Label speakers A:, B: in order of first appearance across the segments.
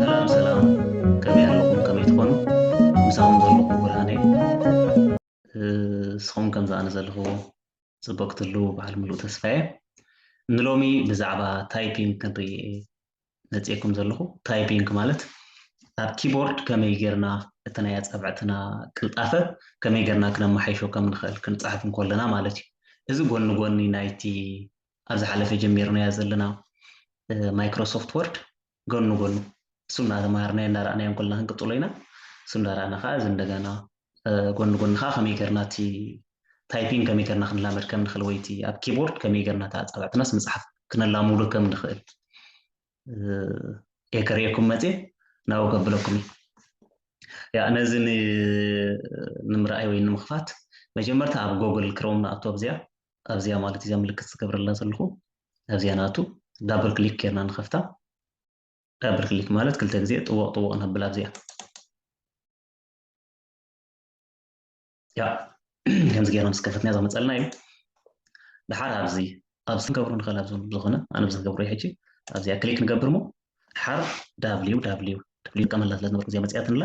A: ሰላም ሰላም ከመይ ኣለኹም ከመይ ትኾኑ ምሳኹም ዘለኹ ብርሃነ ንስኹም ከምዚ ኣነ ዘለኹ ፅቡቅ ክትህልው በዓል ምሉእ ተስፋ እየ ንሎሚ ብዛዕባ ታይፒንግ ክንርኢ መፅኤኩም ዘለኹ ታይፒንግ ማለት ኣብ ኪቦርድ ከመይ ጌርና እቲ ናይ ኣፃብዕትና ቅልጣፈ ከመይ ጌርና ክነመሓይሾ ከም ንኽእል ክንፅሕፍ እንከለና ማለት እዩ እዚ ጎኒ ጎኒ ናይቲ ኣብ ዝሓለፈ ጀሚርናያ ዘለና ማይክሮ ሶፍት ወርድ ጎኑ ጎኑ እሱ እናተማሃርናዮ እንዳረኣናዮ እንኮልና ክንቅፅሎ ኢና እሱ እንዳረኣና ከዓ እዚ እንደገና ጎኑ ጎኑ ከዓ ከመይ ገርና እቲ ታይፒንግ ከመይ ገርና ክንላመድ ከም ንኽእል ወይ እቲ ኣብ ኪቦርድ ከመይ ገርና እቲ ኣፃብዕትናስ ምፅሓፍ ክነላምዶ ከም ንኽእል እየ ከርእየኩም መፅየ ናብኡ ከብለኩም እዩ ያ ነዚ ንምርኣይ ወይ ንምኽፋት መጀመርታ ኣብ ጎግል ክሮም ንኣቶ ኣብዚኣ ኣብዚኣ ማለት እዚኣ ምልክት ዝገብረላ ዘለኹ ኣብዚኣ ናቱ ዳብል ክሊክ ጌርና ንኸፍታ ዳብል ክሊክ ማለት ክልተ ግዜ ጥወቕ ጥወቕ ነብል ኣብዚኣ ያ ከምዚ ጌርና ምስ ከፈትና ዘመፀልና እዩ ድሓር ኣብዚ ኣብዚ ክንገብሮ ንኽእል ኣብ ዝኾነ ኣነ ብዝገብሮ ሕጂ ኣብዚኣ ክሊክ ንገብር ሞ ሓርፍ ዳብሊው ዳብሊው ዳብሊው ይጥቀመላ ስለ ዝነበርኩ እዚኣ መፅያትን ኣላ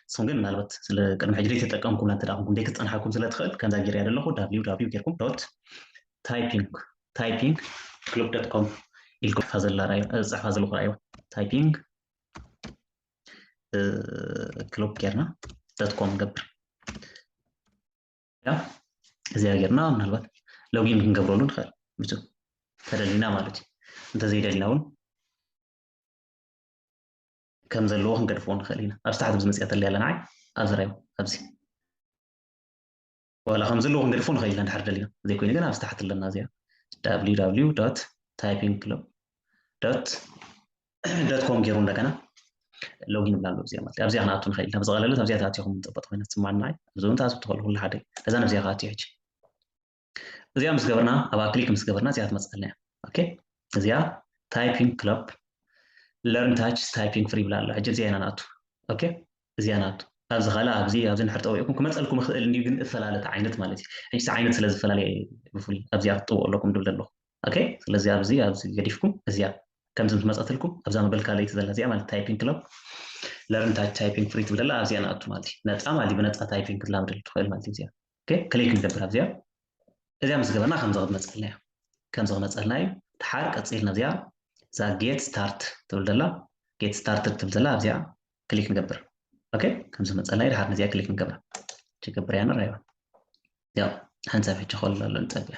A: ንስኹም ግን ምናልባት ስለ ቅድሚ ሕጂ ዘይተጠቀምኩምላ እንተ ኮንኩም ዘይክትፀንሓኩም ስለ ትኽእል ከምዛ ጌርያ ዘለኹ ዳብሊው ዳብሊው ጌርኩም ዶት ታይፒንግ ታይፒንግ ክሉብ ዶት ኮም ኢልኩም ፀሕፋ ዘለኹ ራእዮ ታይፒንግ ክሉብ ጌርና ዶት ኮም ንገብር ኢና እዚኣ ጌርና ምናልባት ሎጊን ክንገብረሉ ንኽእል ምስ ተደሊና ማለት እዩ እንተዘይደሊና እውን ከም ዘለዎ ክንገድፍዎ ንኽእል ኢና ኣብዚ ታሕቲ ብዝመፅያ ተለይ ኣለና ዓይ ኣብዚ ራዮ ኣብዚ ዋላ ከም ዘለዎ ክንገድፎ ንኽእል ኢና ድሓር ደሊና ዘይኮይኑ ግን ኣብዚ ታሕቲ ኣለና እዚኣ www ታይፒንግ ክለብ ዶት ዶት ኮም ገይሩ እንደገና ሎጊን ብላ ኣሎ እዚኣ ማለት ኣብዚኣ ክንኣቱ ንኽእል ኢና ብዝቐለለት ኣብዚኣ ተኣትኹም ፅብቕቲ ኮይና ትስማና እዩ ኣብዚ እውን ትኣትው ትኽእሉ ኩሉ ሓደ እዩ እዛ ነብዚኣ ክኣትዩ ሕጂ እዚኣ ምስ ገበርና ኣብ ክሊክ ምስ ገበርና እዚኣ ትመፅኣልና እያ ኦኬ እዚኣ ታይፒንግ ክለብ ለርን ታች ታይፒንግ ፍሪ ብላ ኣሎ ሕጂ እዚኣ ኢና ንኣቱ ኦኬ እዚኣ ንኣቱ ኣብዚ ካልእ ኣብዚ ኣብዚ ንድሕር ጠዊዕኩም ክመፀልኩም ይኽእል እንዲዩ ግን እፈላለት ዓይነት ማለት እዩ ሕጂ ዓይነት ስለ ዝፈላለየ ብፍሉይ ኣብዚኣ ክትጥውቁ ኣለኩም ድብል ዘለኹም ኦኬ ስለዚ ኣብዚ ኣብዚ ገዲፍኩም እዚኣ ከምዚ ምስ መፀትልኩም ኣብዛ መበልካ ለይቲ ዘላ እዚኣ ማለት ታይፒንግ ክለብ ለርን ታይፒንግ ፍሪ ትብል ዘላ ኣብዚኣ ንኣቱ ማለት እዩ ነፃ ማለት እዩ ብነፃ ታይፒንግ ክትላምደሉ ትኽእል ማለት እዩ እዚኣ ክሊክ ንገብር ኣብዚኣ እዚኣ ምስ ገበርና ከምዚ ክትመፀልና እዩ ከምዚ ክመፀልና እዩ ድሓር ቀፂልና እዚኣ እዛ ጌት ስታርት ትብል ዘላ ጌት ስታርት ትብል ዘላ ኣብዚኣ ክሊክ ንገብር ኦኬ ከምዚ መፀልና እዩ ድሓር ነዚኣ ክሊክ ንገብራ ጀገብርያ ንራይዋ ያው ሓንሳብ ሕጂ ከሎ ኣሎ ንፀብያ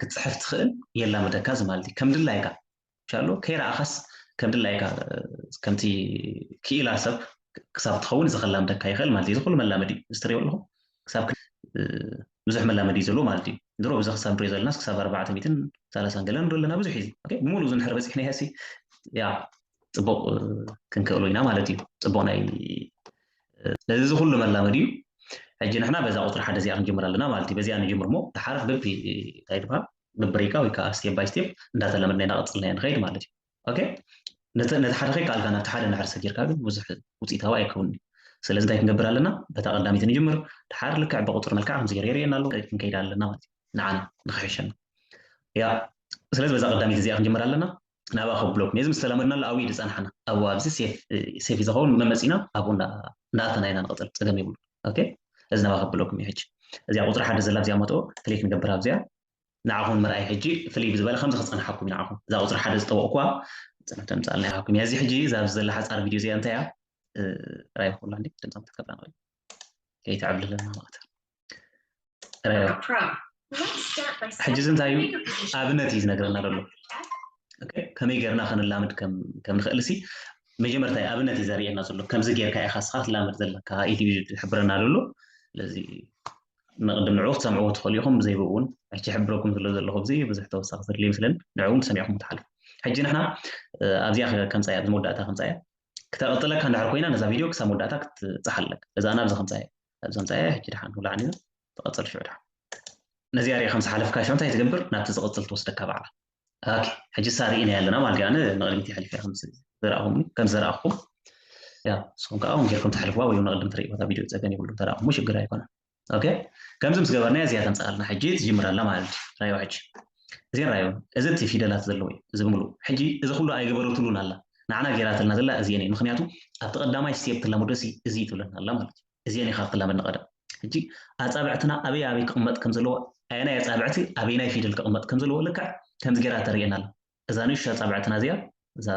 A: ክትፅሕፍ ትኽእል የላምደካ እዚ ማለት እዩ ከም ድላይካ ሻሎ ከይረኣኻስ ከም ድላይካ ከምቲ ክኢላ ሰብ ክሳብ ትኸውን እዚ ከላምደካ ይኽእል ማለት እዩ እዚ ኩሉ መላመዲ እዩ እዚ ትሪኦ ኣለኹም ክሳብ ብዙሕ መላመዲ እዩ ዘለዎ ማለት እዩ ድሮ ብዚ ክሳብ ንሪኦ ዘለናስ ክሳብ ኣርባዕተ ሚትን ሰላሳን ገለን ዶ ኣለና ብዙሕ እዩ ብሙሉ እዚ ንሕር በፂሕናዮ ሲ ያ ፅቡቕ ክንክእሎ ኢና ማለት እዩ ፅቡቕ ናይ ስለዚ እዚ ኩሉ መላመድ እዩ ሕጂ ንሕና በዛ ቁፅሪ ሓደ እዚኣ ክንጅምር ኣለና ማለት እዩ በዚኣ ንጅምር ሞ ድሓር ብቢ እንታይ ድበሃል ብብሪካ ወይ ከዓ ስቴፕ ባይ ስቴፕ እንዳተለመድና ኢና ቀፅልና ኢና ንኸይድ ማለት እዩ ኦኬ ነቲ ሓደ ከይከኣልካ ናብቲ ሓደ ናሕር ሰጊርካ ግን ብዙሕ ውፅኢታዊ ኣይከውን እዩ ስለዚ እንታይ ክንገብር ኣለና በታ ቀዳሚት ንጅምር ድሓር ልክዕ ብቁፅሪ መልክዓ ከምዝገር የርእየና ኣሎ ክንከይድ ኣለና ማለት እዩ ንዓና ንክሕሸና ያ ስለዚ በዛ ቀዳሚት እዚኣ ክንጅምር ኣለና ናባኹም ብሎክ ነዚ ምስ ተላመድናሉ ኣብኡ ዝፀናሕና ኣብኡ ኣብዚ ሴፍ እዩ ዝኸውን ብመን መፂና ኣብኡ እንዳኣተና ኢና ንቕፅል ፀገም የብሉ ኦኬ እዚ ናባኹም ብሎክ እዩ ሕጂ እዚኣ ቁፅሪ ሓደ ዘላ ኣብዚኣ መጥኦ ክሊክ ንገብር ኣብዚኣ ንዓኹም ምርኣይ ሕጂ ፍልይ ብዝበለ ከምዚ ክፀንሓኩም ንዓኹም እዛ ቁፅሪ ሓደ ዝጠወቕኩዋ ፅንሕ ተምፃልና ይሃኩም እያ እዚ ሕጂ እዛ ኣብዚ ዘላ ሓፃር ቪድዮ እዚኣ እንታይ እያ ራይ ኩላ ድምፆም ክትከብላ ንኽእል ከይተዕብልለና ማለት ሕጂ እዚ እንታይ እዩ ኣብነት እዩ ዝነገረና ዘሎ ከመይ ጌርና ክንላምድ ከም ንኽእል ሲ መጀመርታ ኣብነት እዩ ዘርእየና ዘሎ ከምዚ ጌርካ ኢኻ ስኻ ትላመድ ዘለካ ኢሉ እዩ ዝሕብረና ዘሎ ስለዚ ንቅድም ንዕኡ ክትሰምዕዎ ትኽእሉ ኢኹም ብዘይብኡ እውን ሕጂ ሕብረኩም ስለ ዘለኹ እዚ ብዙሕ ተወሳኺ ዘድልዩ ይመስለኒ ንዕኡ እውን ተሰሚዕኩም ትሓልፉ ሕጂ ንሕና ኣብዚኣ ከምፃያ እዚ መወዳእታ ከምፃያ ክተቐፅለካ እንድሕር ኮይና ነዛ ቪድዮ ክሳብ መወዳእታ ክትፅሓለካ እዛ ናብዚ ከምፃያ ኣብዚ ኣምጻያ ሕጂ ድሓን ውላዕ ነይሩ ተቐጽል ሽዑ ድሓን ነዚኣ ሪኣ ከም ዝሓለፍካ ሽዑ እንታይ ትገብር ናብቲ ዝቕጽል ትወስደካ ባዕላ ኦኬ ሕጂ ሳ ርኢና ኣለና ማለት ኣነ ንቕድሚት ይሓሊፈ ከም ዘረኣኹም ከም ዘረኣኹም ያ ንስኹም ከዓ እውን ጌርኩም ተሕልፍዋ ወይ ንቕድም ትርእይዋ እታ ቪድዮ ፀገን ይብሉ ተረኣኹሞ ሽግር ኣይኮነን ኦኬ ከምዚ ምስ ገበርናያ እዚኣ ተምፅኣልና ሕጂ ትጅምር ኣላ ማለት እዩ ራዮ ሕጂ እዚ ራዮ እዚ እቲ ፊደላት ዘለዎ እዩ እዚ ብምሉ ሕጂ እዚ ኩሉ ኣይገበረትሉን ኣላ ንዓና ጌራትልና ዘላ እዝየን እዩ ምክንያቱ ኣብቲ ቀዳማይ ስቴብ ትላመዶ ሲ እዚ ትብለና ኣላ ማለት እዩ እዝየን ኢካ ክትላመድ ንቀደም ሕጂ ኣጻብዕትና ኣበይ ኣበይ ክቅመጥ ከም ዘለዎ ኣየናይ ኣጻብዕቲ ኣበይናይ ፊደል ክቅመጥ ከም ዘለዎ ልክዕ ከምዚ ጌራ ተርእየና ኣላ እዛ ንእሽቶ ኣጻብዕትና እዚኣ እዛ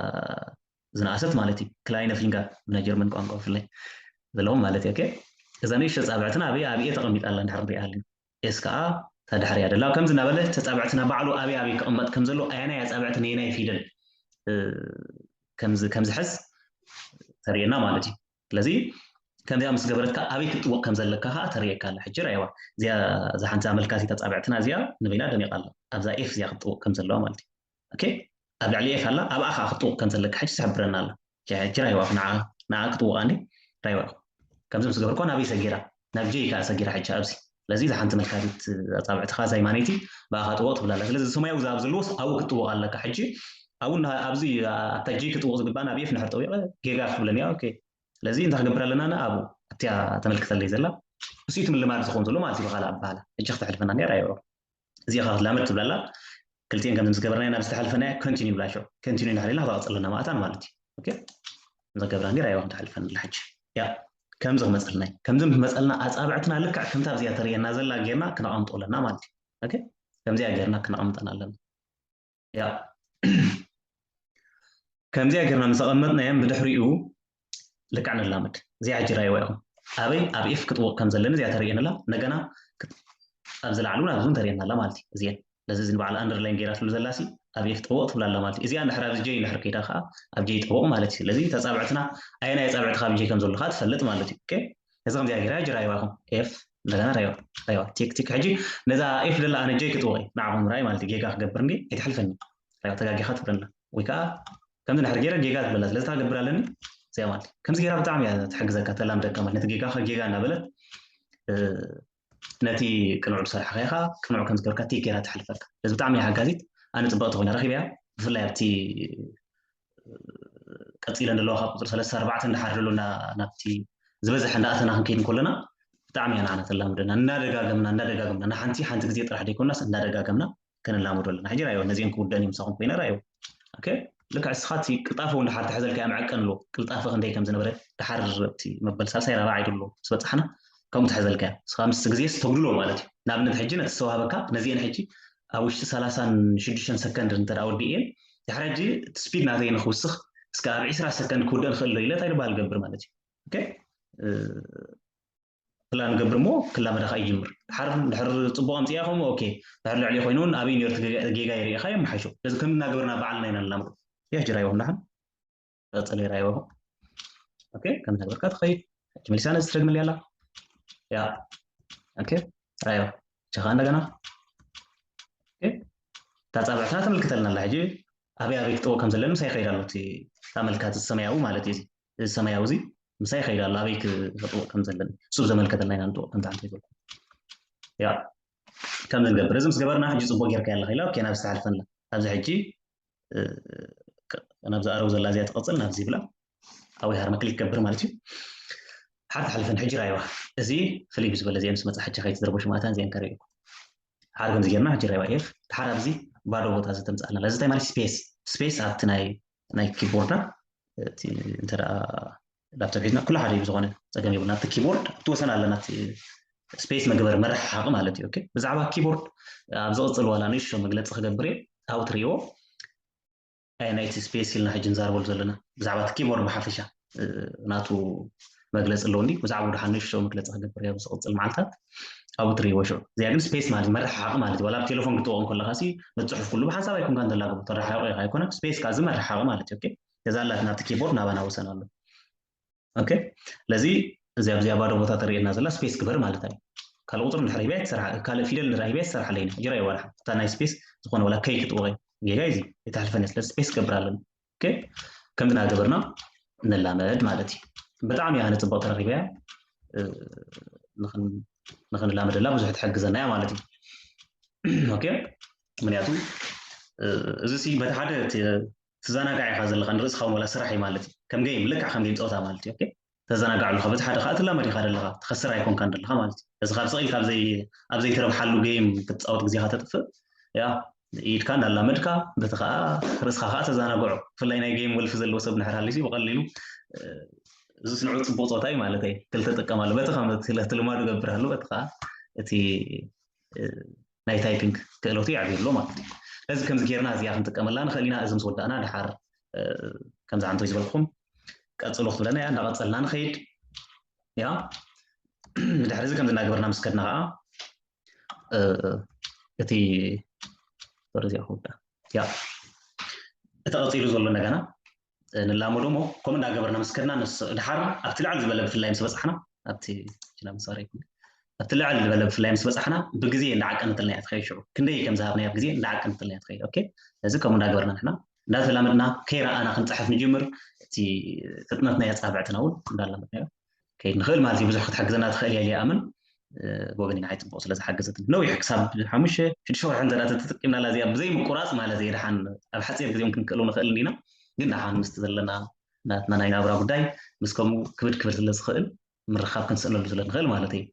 A: ዝነኣሰት ማለት እዩ ክላይነ ፊንጋ ብናይ ጀርመን ቋንቋ ብፍላይ ዘለዎም ማለት እዩ እዛ ንእሽቶ ኣጻብዕትና ኣበይ ኣብኤ ተቀሚጣ ኣላ እንድሕር ንሪኣ ኣለና ኤስ ከኣ እታ ድሕሪኣ ደላ ከምዚ እናበለ ተጻብዕትና ባዕሉ ኣበይ ኣበይ ክቕመጥ ከም ዘለዎ ኣየናይ ኣጻብዕቲ ነየናይ ፊደል ከምዚ ከምዝሕዝ ተርእየና ማለት እዩ ስለዚ ከምዚኣ ምስ ገበረትካ ኣበይ ክትጥወቕ ከም ዘለካ ከዓ ተርእየካ ኣላ ሕጂ ራይዋ እዚኣ እዛ ሓንቲ ኣመልካቲት ኣጻብዕትና እዚኣ ንበይና ደሚቓ ኣላ ኣብዛ ኤፍ እዚኣ ክትጥወቕ ከም ዘለዋ ማለት እዩ ኦኬ ኣብ ልዕሊ ኤፍ ኣላ ኣብኣ ከዓ ክትጥውቕ ከም ዘለካ ሕጂ ትሕብረና ኣላ ሕጂ ራይዋ እኮ ንዓ ንዓ ክጥውቓ እንዲ ራይዋ እኮ ከምዚ ምስ ገበርኩ ናበይ ሰጊራ ናብ ጀይ ከዓ ሰጊራ ሕጂ ኣብዚ ስለዚ እዛ ሓንቲ መልካቲት ኣፃብዕትኻ እዛ ይማነይቲ ብኣኻ ጥወቕ ትብላ ኣላ ስለዚ ሰማያዊ ዛብ ዘለዎ ኣብኡ ክትጥውቕ ኣለካ ሕጂ ኣብኡ ኣብዚ ኣብታ ጀይ ክትጥውቕ ዝግባእ ናብ ኤፍ ንድሕር ጠዊቐ ጌጋ ክትብለኒ እያ ኦኬ ስለዚ እንታይ ክገብር ኣለና ና ኣብኡ ኣብቲያ ተመልክተለይ ዘላ ንስኡ እቲ ምልማድ ዝኸውን ዘሎ ማለት እዩ ብኻልእ ኣባህላ ሕጂ ክተሕልፈና ነራ ይሮ እዚኣ ካብ ላመድ ትብላ ኣላ ክልቲኤን ከምዚ ዝገበርና ናብ ዝተሓልፈናዮ ኮንቲኒ ብላ ሸው ኮንቲኒ እናሓለና ካብኣ ቀፅለና ማእታን ማለት እዩ እዛ ገብራ ኔራ ይዋ ክትሓልፈን ኣላ ሕጂ ያ ከምዚ ክመፀልና እዩ ከምዚ ክመፀልና ኣፃብዕትና ልክዕ ከምታ ኣብዚኣ ተርእየና ዘላ ጌርና ክነቐምጦ ኣለና ማለት እዩ ከምዚኣ ጌርና ክነቐምጠን ኣለና ከምዚኣ ጌርና ምስ ኣቐመጥናዮም ብድሕሪኡ ልክዕ ንላመድ እዚኣ ሕጂ ራይዋ ኢኹም ኣበይ ኣብ ኤፍ ክጥውቕ ከም ዘለኒ እዚኣ ተርእየንላ እንደገና ኣብዚ ላዕሊ እውን ኣብዚ እውን ተርእየና ኣላ ማለት እዩ እዚአን ነዚ እዚ ንበዓል ኣንደርላይን ጌራትሉ ዘላ ሲ ኣብ ኤፍ ጥውቕ ትብላ ኣላ ማለት እዩ እዚኣ ንድሕር ኣብዚ ጀይ ንድሕር ከይዳ ከዓ ኣብ ጀይ ጥውቕ ማለት እዩ ስለዚ ተፃብዕትና ኣየናይ ፃብዕቲ ካብ ጀይ ከም ዘሎ ከዓ ትፈልጥ ማለት እዩ እዚ ከምዚኣ ጌራ ጅራይዋ ኢኹም ኤፍ እንደገና ረዮ ረዮ ቲክ ቲክ ሕጂ ነዛ ኤፍ ደላ ኣነ ጀይ ክጥወቂ ንዓኹም ምርኣይ ማለት እዩ ጌጋ ክገብር እንዲ ኣይትሕልፈኒ ረዮ ተጋጊኻ ትብለና ወይ ከዓ ከምዚ ድሕር ገይረ ጌጋ ዝበላ ስለዚ ታገብር ኣለኒ እዚኣ ማለት ከምዚ ገይራ ብጣዕሚ እያ ትሕግዘካ ተላምደካ ማለት ነቲ ጌጋኻ ጌጋ እናበለት ነቲ ቅኑዕ ዝሰርሕኻ ኢኻ ቅኑዕ ከም ዝገበርካ ቲክ ገይራ ትሕልፈካ ስለዚ ብጣዕሚ እያ ሓጋዚት ኣነ ፅበቕቲ ኮይና ረኺበያ ብፍላይ ኣብቲ ቀፂለን ዘለዋ ካብ ቁፅሪ ሰለስተ ኣርባዕተ እንዳሓር ዘሎ ናብቲ ዝበዝሐ እንዳኣተና ክንከይድ እንከለና ብጣዕሚ ኢና ንዓና ተላምደና እንዳደጋገምና እንዳደጋገምና ንሓንቲ ሓንቲ ግዜ ጥራሕ ዘይኮናስ እንዳደጋገምና ከነላምዶ ኣለና ሕጂ ራዮ ነዚኦም ክውደን እዩ ምሳኹም ኮይነ ራዮ ኦኬ ልክዕ እስኻ እቲ ቅልጣፈ እውን ድሓር ተሕዘልካዮ መዐቀን ኣለዎ ቅልጣፈ ክንደይ ከም ዝነበረ ድሓር እቲ መበል ሳልሳይ ራብዓይ ድሎ ምስ በፃሕና ከምኡ ተሕዘልካዮ እስኻ ምስ ግዜ ስተጉድሎ ማለት እዩ ንኣብነት ሕጂ ነቲ ዝተዋህበካ ነዚአን ሕጂ ኣብ ውሽጢ ሰላሳን ሽዱሽተን ሰከንድ እንተ ወዲእየን ድሕሪ ሕጂ እቲ ስፒድ ናተይ ንክውስኽ እስከ ኣብ ዕስራ ሰከንድ ክውድእ ንኽእል ዶ ኢለ እንታይ ድበሃል ገብር ማለት እዩ ኦኬ ክላ ንገብር እሞ ክላመዳ ከዓ ይጅምር ድሓር ድሕር ፅቡቅ ኣምፅያ ከምኡ ኦኬ ድሕር ልዕሊ ኮይኑ እውን ኣበይ ነርቲ ጌጋ ይርኢኻ የመሓይሾ ስለዚ ከም እናገበርና ባዕልና ኢና ንላምዶ ያጅራዮም ዳሓን ቅርፂ ነይራዮ ኦኬ ከምዚ ገበርካ ትኸይድ ሕጂ መሊሳ ነዚ ትደግመለይ ኣላ ያ ኦኬ ራዮ ሕጂ ከዓ እንደገና እታ ፃብዕትና ተመልክተልና ኣላ ሕጂ ኣበይ ኣበይ ክጠው ከም ዘለኒ ምሳይ ይኸይድ ኣሎ እቲ ኣመልካቲ ሰማያዊ ማለት እዩ እዚ ሰማያዊ እዚ ምሳይ ይኸይድ ኣሎ ኣበይ ክጥውቕ ከም ዘለኒ እሱ ዘመልከተና ኢና ንጥውቕ ከምቲ ሓንቲ ይበልኩ ያ ከምዚ ንገብር እዚ ምስ ገበርና ሕጂ ፅቡቅ ጌርካ ኣለካ ኢላ ኦኬ ናብ ዝተሓልፈ ኣላ ኣብዚ ሕጂ ናብዚ ኣረው ዘላ እዚኣ ትቐፅል ናብዚ ይብላ ኣብይ ሃርመ ክሊክ ገብር ማለት እዩ ሓርፍ ሓልፈን ሕጂ ራይዋ እዚ ፍልይ ብዝበለ እዚኦም ምስ መፅሓቸ ከይትዝረበሹ ማእታን እዚአን ከርእዩኩ ሓደ ከምዚ ጌርና ሕጂ ራይዋ ኤፍ ድሓር ኣብዚ ባዶ ቦታ እዚ ተምፅኣልና እዚ እንታይ ማለት ስፔስ ስፔስ ኣብቲ ናይ ናይ ኪቦርዳ እቲ እንተ ላፕቶፕ ሒዝና ኩሉ ሓደ እዩ ዝኾነ ፀገም የብሉ ናብቲ ኪቦርድ ኣብቲ ወሰን ኣለ ናብቲ ስፔስ መግበሪ መራሕ ሓቂ ማለት እዩ ብዛዕባ ኪቦርድ ኣብ ዝቕፅል ዋላ ንእሽቶ መግለፂ ክገብር እየ ኣብኡ ትርእይዎ ናይቲ ስፔስ ኢልና ሕጂ ንዛረበሉ ዘለና ብዛዕባ እቲ ኪቦርድ ብሓፈሻ ናቱ መግለፂ ኣለውኒ ብዛዕባ ድሓ ንእሽቶ መግለፂ ክገብር እየ ኣብ ዝቕፅል መዓልታት ኣብኡ ትርእይዎ ሽዑ እዚኣ ግን ስፔስ ማለት መራሕ ሓቂ ማለት እዩ ዋላ ኣብ ቴሌፎን ክትጠቕም ከለካ ሲ ንፅሑፍ ኩሉ ብሓንሳብ ኣይኮንካ እንተላግቡ ተረሓቂ ኢኻ ኣይኮነን ስፔስ ካዚ መራሕ ሓቂ ማለት እዩ እዛ ኣላት ናብቲ ኪቦርድ ናባና ወሰን ኣሎ ኦኬ ስለዚ እዚ ኣብዚኣ ባዶ ቦታ ተርእየና ዘላ ስፔስ ግበር ማለት እዩ ካልእ ቁፅሪ ንድሕር ሂበያ ትሰርሓ ካልእ ፊደል ንርኢ ሂበያ ትሰርሓለ ኢና ጅራ ይዋርሓ እታ ናይ ስፔስ ዝኾነ ወላ ከይ ክጥወቀ ጌጋ እዚ የተሕልፈኒ ስለ ስፔስ ክገብር ኣለኒ ኦኬ ከምዚ እናገበርና ንላመድ ማለት እዩ ብጣዕሚ እያ ንፅቡቅ ተረኪበያ ንክንላመደላ ብዙሕ ትሕግዘና እያ ማለት እዩ ኦኬ ምክንያቱ እዚ በቲ ሓደ ትዛናጋዕ ኢኻ ዘለኻ ንርእስኻ ውን ወላ ስራሕ እዩ ማለት እዩ ከም ገይም ልክዕ ከም ገይም ጸወታ ማለት እዩ ኦኬ ተዘናጋዕ ኣሎኻ በቲ ሓደ ከኣ ትላመድ ኢኻ ደለኻ ትኸስር ኣይኮንካን ደለኻ ማለት እዩ እዚ ካብ ስቕ ኢልካ ኣብ ዘይትረብሓሉ ገይም ክትጻወት ግዜኻ ተጥፍእ ያ ኢድካ እንዳላመድካ በቲ ከዓ ርእስኻ ከዓ ተዘናግዖ ብፍላይ ናይ ገይም ወልፊ ዘለዎ ሰብ ንሕር ሃሊሱ ብቐሊሉ እዚ ስንዑ ፅቡቅ ፆታ እዩ ማለት እዩ ክልተ ጥቀማሉ በቲ ከም ልማዱ ገብርሃሉ በቲ ከዓ እቲ ናይ ታይፒንግ ክእለቱ የዕብዩ ኣሎ ማለት እዩ። ስለዚ ከምዚ ጌርና እዚኣ ክንጥቀመላ ንኽእል ኢና። እዚ ምስ ወዳእና ደሓር ከምዚ ዓንቶይ ዝበልኩም ቀጽሉ ክትብለና እያ። እንዳቐጸልና ንኸይድ እያ። ብድሕሪ እዚ ከምዚ እናገበርና ምስ ከድና ከዓ እቲ ሶሪ እዚኣ ክውዳእ እያ። እቲ ቀጺሉ ዘሎ እንደገና ንላመዶ እሞ ከምኡ እንዳገበርና ምስ ከድና ንስ ድሓር ኣብቲ ልዕል ዝበለ ብፍላይ ምስ በፃሕና ኣብቲ ችላ ምሳሪ ይኩን ኣብቲ ልዕል ዝበለ ብፍላይ ምስ በፃሕና ብግዜ እንዳዓቀነትልና እያ ትኸይድ ሽዑ ክንደይ ከም ዝሃብናያ ብግዜ እንዳዓቀነትልና እያ ትኸይድ ኦኬ እዚ ከምኡ እንዳገበርና ንሕና እንዳተላመድና ከይረኣና ክንፅሕፍ ንጅምር እቲ ፍጥነትና የፃብዕትና እውን እንዳላመድናዮ ክንከይድ ንኽእል ማለት እዩ ብዙሕ ክትሕግዘና ትኽእል እያ ኢለ ይኣምን ብወገኒ ንዓይ ፅቡቕ ስለ ዝሓገዘትኒ ነዊሕ ክሳብ ሓሙሽተ ሽዱሽተ ወርሒ እንተ ተጠቂምናላ እዚኣ ብዘይምቁራፅ ማለት እየ ድሓን ኣብ ሓፂር ግዜ እውን ክንክእሉ ንኽእል እንዲና ግን ድሓን ምስቲ ዘለና ናትና ናይ ናብራ ጉዳይ ምስ ከምኡ ክብድ ክብል ስለ ዝኽእል ምርኻብ ክንስእነሉ ስለ ንኽእል ማለት እዩ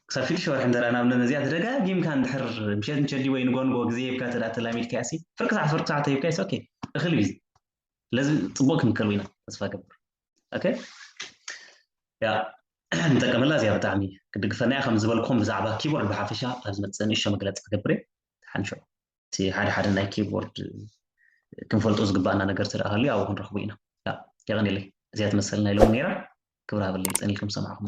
A: ክሳብ ሽዱሽተ ወርሒ እንተ ናብ ነዚኣ ተደጋጊምካ እንድሕር ምሸት ምሸዲ ወይ ንጎንጎ ግዜ ሂብካ ተዳ ተላሚድካያ ሲ ፍርቂ ሰዓት ፍርቂ ሰዓት ሂብካያ ኦኬ እኽል እዩ ስለዚ ፅቡቅ ክንክእሉ ኢና ተስፋ ገብር ኦኬ ያ ንጠቀመላ እዚኣ ብጣዕሚ ክድግፈና እያ ከም ዝበልኩም ብዛዕባ ኪቦርድ ብሓፈሻ ኣብ ዝመፅእ ንእሾ መግለፂ ክገብር እየ ሓንሾ እቲ ሓደ ሓደ ናይ ኪቦርድ ክንፈልጦ ዝግባኣና ነገር ተደኣሃሉ ኣብኡ ክንረኽቡ ኢና የቐኒለይ እዚኣ ትመሰል ናይ ሎሚ ነይራ ክብር ሃበለይ ፀኒልኩም ሰማዕኹም